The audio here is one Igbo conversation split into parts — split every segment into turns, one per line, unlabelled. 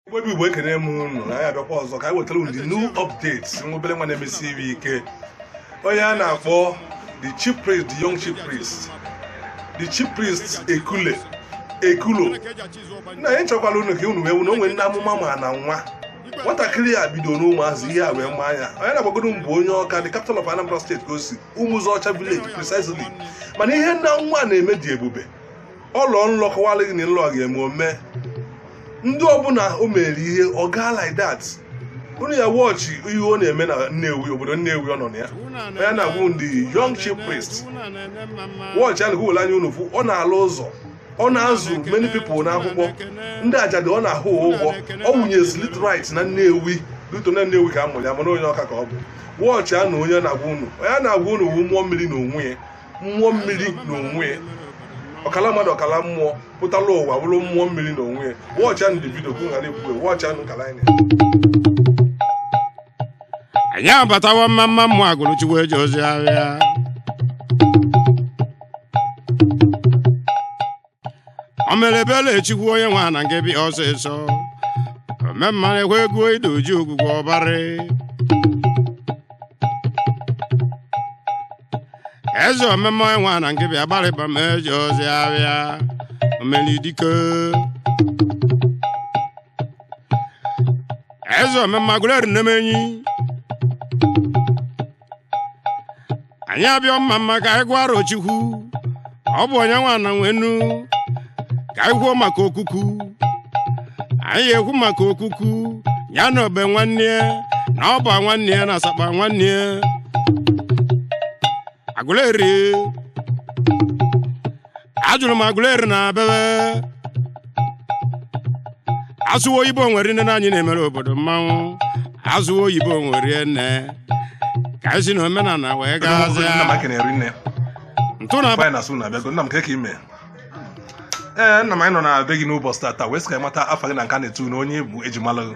igbo bụ igbo ekene m unu na anyị abịakwa ọzọ ka anyị wetara unu the new updates nwa obere nwa na-emesi ihe ike onye a na-akpọ the chief priest the young chief priest the chief priest ekulo na anyị chọkwara unu ka unu wee wụ na o nwere ndị amụma ma na nwa nwatakịrị a bido n'ụmụazị ihe a wee maa ya onye na-agbagodo m bụ onye ọka the capital of anambra state ka o si ụmụzọcha village precisely mana ihe nna nwa na-eme dị ebube ọ lọọ nlọ kọwara gị na nlọ ga-eme eme ndị ọbụla o mere ihe ọ gaa like that unu ya watch ihe ọ na-eme na Nnewi obodo Nnewi ọ nọ na ya onye a na-agwa unu the young chief priest watchịa nụ ka unu were anya unu fụ ọ na-alụ ụzọ ọ na-azụ many people n'akwụkwọ ndị ajadu ọ na-akwụ ụgwọ ọ wụnye street light na Nnewi due to na Nnewi ka a mụrụ ya mana onye ọka ka ọ bụ watchịa nụ onye na-agwa unu onye na-agwa unu wu mmụọ mmiri na onwe ya mmụọ mmiri n'onwe ya ọkala mmadụ ọkala mmụọ pụtala ụwa bụrụ mmụọ mmiri n'onwe ya watchịa nụ the video ka ghara ekwuwe watchịa nụ kala anyị
anyị abatawo mma mma mmụ agụrụ chukwu eji ozi ahịa o mere ebele chukwu onye nwe na nke bịa ọsịsọ omemma na-ekwe ego ide uju ogwugwu ọbarị eze omemma onye nwe na nke bi agbarịba ma eji ozi abịa omelidike eze omemma agụleri nnemenyi anyị abịa mma mma ka anyị gwara Chukwu ọ bụ onye nwa na nwenu ka anyị kwuo maka okuku anyị ekwu maka okuku ya na obe nwanne ya na ọ bụ nwanne ya na asakpa nwanne ya agụleri ajụrụ m agụleri na abebe asụwa oyibo nwere nne na anyị na-emere obodo mmanwụ asụwa oyibo nwere nne ka anyị si na omenala wee Nna m gaazịa aka na-eri
nne ntụ
na Fine asụ na
abịago nna m kee ka i mee nna m anyị nọ na be gị n'ụbọchị tata wee sị ka anyị mata afa gị na nke a na-etu na onye bụ ejimalụ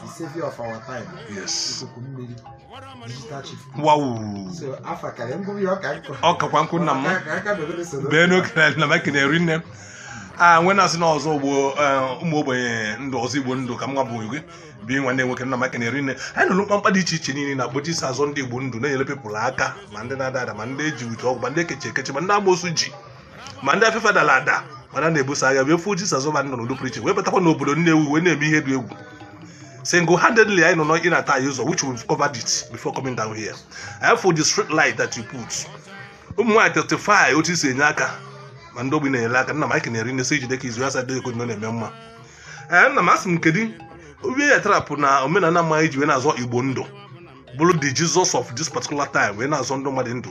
the savior of our time yes ikuku mmiri digital chief
wow so afa
karịa ngwụrụ ya ọka nkụ ọ kakwa nkụ nna
m Ka- ka aka bebere
soro bee n'oke na na mike
na-eri nne m a nwe na-asị na ọzọ ugbo eh, ụmụ ogbenye ndụ ọzọ igbo ndụ ka nwa bụ gị bi nwanne nwoke nna mike na-eri nne anyị nụrụ mkpamkpa dị iche iche niile ị na-akpa otu i si azọ ndị igbo ndụ na-enyere people aka ma ndị na-ada ada ma ndị eji uche ọgwụ ma ndị ekechi ekechi ma ndị amoosu ji ma ndị afefe dara ada mana na-ebuso agha wee fuo Jisọs ụba nọ n'ụdị pụrụ iche wee batakwa n'obodo Nnewi wee na-eme ihe dị egwu single handedly anyị nụ na ị na-ata anyị ụzọ which we've covered it before coming down here anyị for the street light that you put ụmụ nwaanyị testify otu i si enye aka ma ndị ogbi ị na-enyere aka nna m anyị kenyere nne sị jide ka izu ya sa dịghị egodino na-eme mma ee nna m asị m kedu obi ya tarapụ na omenala mma i ji wee na-azọ igbo ndụ bụrụ the Jesus of this particular time wee na-azọ ndụ mmadụ ndụ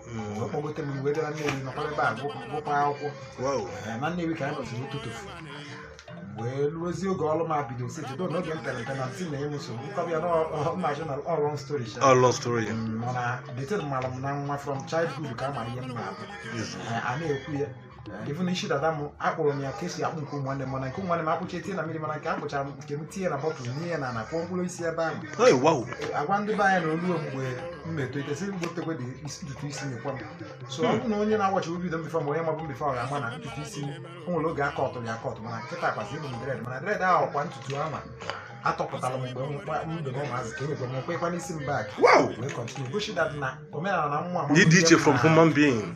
Mm, ọ kpọgote m wee gara Nnewi nọkwa ebe a gụ- gụkwa akwụkwọ Wow. Ee, na Nnewi ka anyị nọzi tutuu wee ruozie oge ọrụ m abido si jido na oge m pere mpe na ntị na enwe nsogbu m kọba ya na ọ ma-agwụ na ọ long story sha. Ọ long story. Mm, mana the thing mara m na nwa from childhood ka a mara ihe m na-abụ Yes. Ee, a na-ekwu ya even isi dada m akpụrụ m ya ka esi akpụ nke ụmụnne m mana nke ụmụnne m akpụcha etinye na mmiri mana nke akpụchara m nke m tinye na bottle nie n'ana kụọ mkpụrụ osisi ebe ahụ Hey, wow. agwa ndị be anyị na o luo mgbe m na-etolite sị gwutekwe the isi- ntutu isi nyekwa m so ọ bụrụ na onye na-awatch video m before ma onye mabu m before ọ ga-ama na ntutu isi o nwere oge a cutụrụ ya acut mana kịta kwazi ebu m dread mana dread ahụ kwa ntutu ahụ atọpụtara m mgbe m gba- m dobe ụmụazị ka enyekwa m kwekwa n'isi m back Wow. wee continue gosi that na omenala na mmụọ Dị dị iche from human
being.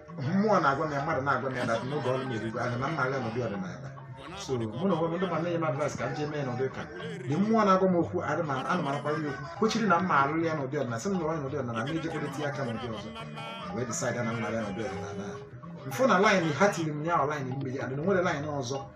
mmụọ na-agwa m ya mmadụ na-agwa m ya that na oge ọrụ m erugo ahịa na mma aga n'ụdị ọdịnala so mụ na onwe m ndị ma na-enye m advice ka m jee mee n'ụdị ụka the mmụọ na-agwa m okwu adị ma ana m arakwara ya okwu kwechiri na m ya-alụ ya n'ụdị ọdịnala sị m lụrụ ya n'ụdị ọdịnala m ejekwala tinye aka n'ụdị ọzọ M wee decide na m mee ya n'ụdị ọdịnala m fụ na line ha tiri m ya ọ line mmiri adị na nwere line ọzọ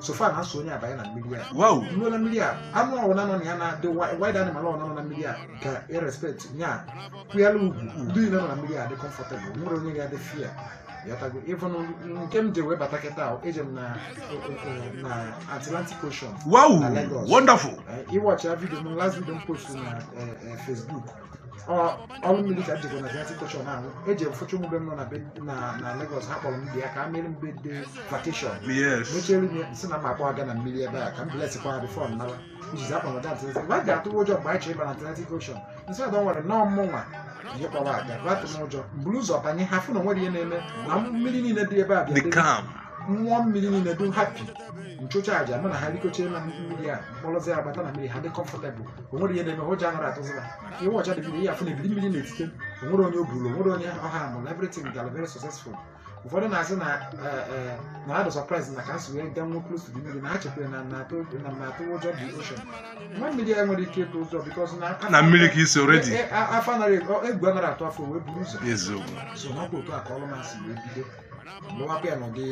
so far na a sị onye abanye na mmiri a wow ruo na mmiri
a
anụ ọwụla nọ na ya na the wild animal ọwụla nọ na mmiri a ga-erespect ya kwanyela ugwu ndị niile nọ na mmiri a dị comfortable nwere onye ga-adị fear ịghọtago even nke m je wee bata kịta ahụ eje m na na Atlantic Ocean wow Na Lagos.
wonderful Eh, ị watchie video
m last video m post na eh, eh, Facebook ọrụ mmiri ka m jekọ na Atlantic Ocean ahụ eje m fụcha ụmụ be m nọ na be- na- na Lagos ha kpọrọ m bịa ka a mere m dedication Yes. mechere m ya, m sị na m akpọ ha ga na mmiri ebe a ka m blesskwa ha before m nawa ijizi akpọ na Atlantic Ocean ha ga-atụ ụjọ mgbe anyị chọrọ ịba na Atlantic Ocean m sị na nwere nọọ mmụnwa ihe kpọrọ aga batụ m ụjọ m buru ụzọ banye ha fụ na o nwere ihe na-eme na mmiri niile dị ebe a bịa The debe- calm. mmụọ mmiri niile dị happy m chụcha aja mụ na ha rikọchaa na mmiri a m kpọrọzi ha bata na mmiri ha dị comfortable o nwere ihe na-eme ụjọ anarọ atụzi ha ihe ọcha dị mmiri ya ha fụ na ebili mmiri na-etite o nwere onye o buru o nwere onye ọ harmụrụ everything gara very successful ụfọdụ na-asị na eh, eh, na ha dị surprise na ka m si wee gaa nọ close to the mmiri na ha chekwere na na atụ na na atụ ụjọ the ocean nwa mmiri ya nwere ike ịtụ ụjọ because na na mmiri ka i
si already Eh, eh, afọ anaghị
egwu anaghị atụ afọ wee buru ụzọ eziokwu so ọ bụ otu a
ka ọrụ m
si wee bido mụwaka ya n'ụdị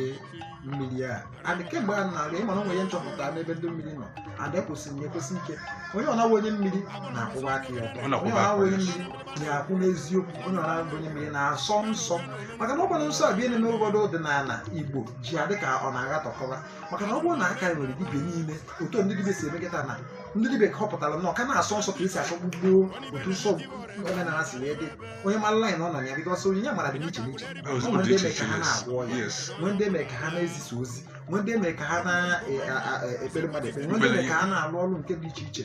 mmiri a adị kemgbe a na-aga ịma na o nwere nchọpụta n'ebe ndị mmiri nọ adị ekwusiri ya ekwusi ike onye ọ na-awụ onye mmiri na-akwụwa aka ya ọtọ onye ọ na-awụ onye mmiri na-akwụ n'eziokwu onye ọ na-abụ onye mmiri na-asọ nsọ maka na ọ gbara nsọ abịa na-eme ụfọdụ ọdịnala Igbo ji adị ka ọ na-aghatọkọwa maka na ọ bụrụ na a ka nwere dibịa niile otu ndị dibịa si emekọta na ndị dibịa ka họpụtara na ọ ka na-asọ nsọ ka e si asọ gboo gboo otu nsọ omenala si wee dị onye mara line ọ nọ na ya because onyinye amara dị n'iche n'iche Ọ bụ nwere ndị mere ka ha na-agwọ ọya Yes. nwee ndị mere ka ha na-ezisa ozi nwee ndị mere ka ha na-ekpere mmadụ ekpere nwee ndị mere ka ha na-alụ ọrụ nke dị iche iche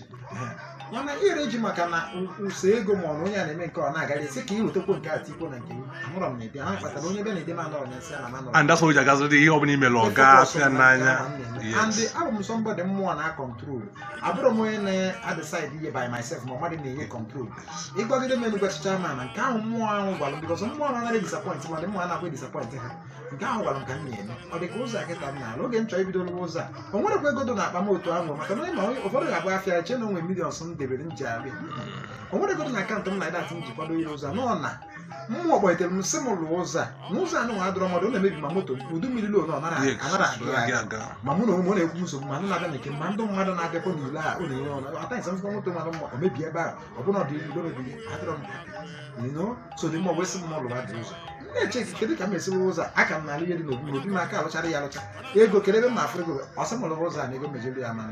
mana ire ji maka na ụsọ ego ma ọ na onye a na-eme nke ọ na-agara esi ka ị wetakwa nke a tikwo na nke gị amụrọ m na ebe ha kpatara onye be na ebe na-anọrọ na nsị a na manọrọ and that's why ji agaziri
ihe ọbụla i mere ọ ga-afụ ya n'anya and yes abụ
m somebody mmụọ na-control abụrọ m onye na-decide ihe by myself ma mmadụ na-enye control ị gwagide m ụnụ gwachicha mana nke ahụ mmụọ ahụ gwara m because mmụọ ahụ anaghị disappoint mmadụ mmụọ anaghị disappoint ha nke ahụ gwara m ka m na-eme ọ dị ka ụzọ a kịta m na-alụ oge m chọrọ ibido lụwa ụzọ a o nwerọkwa ego dị n'akpa m otu ahụ maka na ma ụfọdụ ga-abụ afụ ya eche na o nwe millions m debere m ji abịa o nwerọ ego dị na account m na that m ji kwado ihe ụzọ a nọ na mmụọ kpọlitere m sị m lụọ ụzọ a na ụzọ a nwa adịrọ mma ọ na-emebi ma moto udu mmiri luo ọ nara aga ma mụ na onwe m ọ na-ekwu nsogbu ma ndị na-abịa na nke m, ma ndị mmadụ na-abịakwa n'ule a ọ na-enye ọnụ ata nsa m fụkwa moto mara mma ọ mebie ebe a ọ bụrụ na ọ dị ebe mebiri adịrọ m you know so dị mma ọ wee sị m na ọ lụrụ adị ụzọ m na-eche echiche kedu ka m esiwe ụzọ a aka m na-alụ ihe dị n'obi n'obi m aka alụchara ya alụcha ego kee ebe m na-afụ ego ọ sị m lụwa ụzọ a na ego mejere ya mara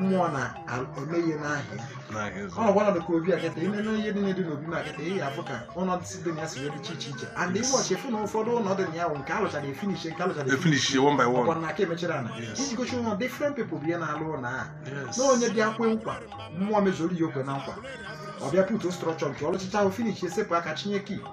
mmụọ na-eme ihe n'ahịa ọ na-agwa na dịka obi akịta ime na ihe dị na-edi n'obi m akịta ihe afụ ka ụlọ si dị na ya si wee dịcha iche iche and ime ọchị efu na ụfọdụ ụlọ dị na ya bụ nke alụchara finish nke alụchara finish ọkwa
na aka emechara
na iji gochi ụlọ different people bụ ihe na-alụ ụlọ a na onye bịa kwe nkwa mmụọ mezuru ya o kwe na nkwa ọ bịa put structure nke ọ lụchicha ahụ finish esepụ aka chinye key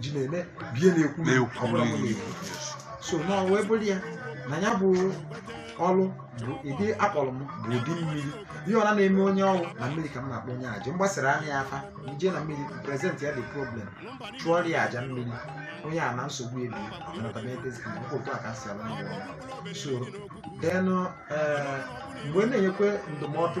ji na-eme bie na-ekwu ọ bụla mụ na-ekwu so na wee bụrụ ya na ya bụ ọlụ bụ ịdị akpọrọ m bụ ụdị mmiri ihe ọna na-eme onye ọrụ na mmiri ka m na-akpọ onye aja m gbasịara ya afa m je na mmiri present ya the problem chụọrọ ya aja mmiri onye a na nsogbu ebie otu a ka m si alụ ndị ọrụ so then mgbe m na-enyekwe ndụmọdụ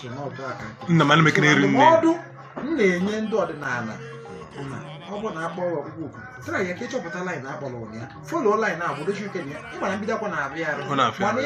so na ọdụ aka nke nna m ana m ekene eri
nne ndụmọdụ
m na-enye ndị ọdịnala bụ na ọ bụrụ na akpọ ọrụ ọkpụkpọ oku tara ya ka ị chọpụta line akpọrọ ụnụ ya follow line a bụrụ chuke na ya ị mara mbido akwa na-afịa arụ mana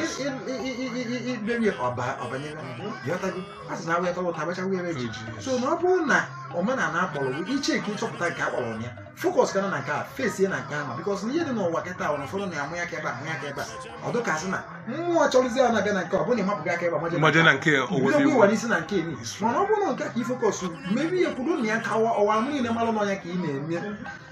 iberi ọba ọbanyere bịọtago a sị na awụ ya tọrọ ụta abacha were ji Oji. so na ọ bụrụ na omenala akpọrọ bụ iche ka ị chọpụta nke akpọrọ ụnụ ya focus kana na nke a face ya na nke ahụ because na ihe dị n'ụwa kịta ahụ na ụfọdụ na-amụ ya ka ebe a amụ ya ka ebe a ọ dịkasị na mmụọ chọrọzi ya na-abịa na nke ọ bụrụ na ịmapụghị aka ebe a, maje na mmaje nke a. na nke bido
gwa owezi ịwa n'isi na
nke eni mana ọ bụrụ na nke a ka ị focus mebe ihe kwudo na ya ka ụwa ahụ niile mara na ọ nya ka ị na-eme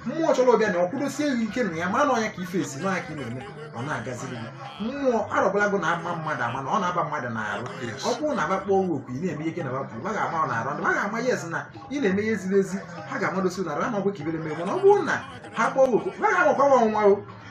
mmụọ chọrọ ọbịa na ọ kwudosie gị ike na ya mara na ọ nya ka ị face na ọ nya ka ị na-eme ọ na-agaziri gị mmụọ arọbịnagụ na-ama mmadụ ama na ọ na-aba mmadụ n'arụ Yes. ọ bụrụ na aba kpọọ gị oku ị na-eme ihe ike na bapụ ha ga-ama ị n'arụ ndị ha ga-ama yes na ị na-eme ihe ziri ezi ha ga-amadosi n'arụ ha ma ọgwụ ka ibere mee mana ọ bụrụ na ha kpọọ gị oku ha ga-amakwa nwa ọnwa o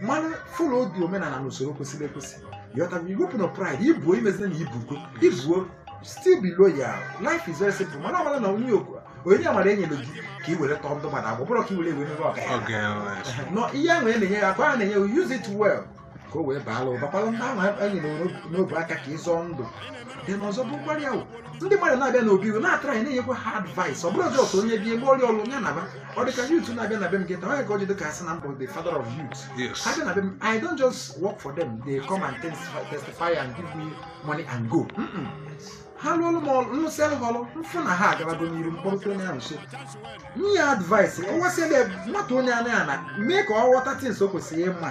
mana followbe omenala na usoro kwesịrị ekwesị ị ghọtago iwepụ na pride i buo emezina na i bugo ibu o still be loyal life is very simple mana mara na onye okwu onyinye amara enyere gị ka i were tọọ ndị mmadụ agbụ ọ bụrọ ka i were ewe mebe ọga ya oge eh, no ihe ahụ e na-enye ya akwa a na-enye ya use it well ka o wee baala ụba kpalụ ndị ahụ anyị nyere n'obu aka ka ịzọ ndụ then ọzọ bụkwara ya wụ. ndị mmadụ na-abịa n'obi ị na-atry na-enyekwa ha advice ọ bụrọ sọ ka onye bịa be ị rụọ ya ọlụ ya naba ọ dị ka youth na-abịa na be m kịta o nwe ka o ji dị ka a sị na m bụ the father of youth Yes. ha bịa na be m i don't just work for them they come and testify, testify and give me money and go Mm-mm. ha lụọ ọlụ m ọlụ m lụsịalụ ha ọlụ m fụ na ha agabago n'iru m kpọrọta onye ahụ nso nye ya advice kọwasịala nwata onye anaghị ana mee ka ọ ghọta things o kwesịrị ịma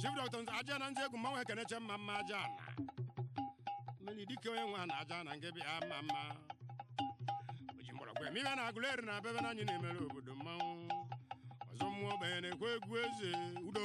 chief dr ajana nze egwu mmanwụ ekeneche mma mma ajana mmiri dike onye nwe na ajana nke bịa mma mma oji mgbọrọgwụ eme ihe n'agụleri na abebe na anyị na-emere obodo mmanwụ ọzọ mmụọ ogbenye na-ekwe egwu eze udo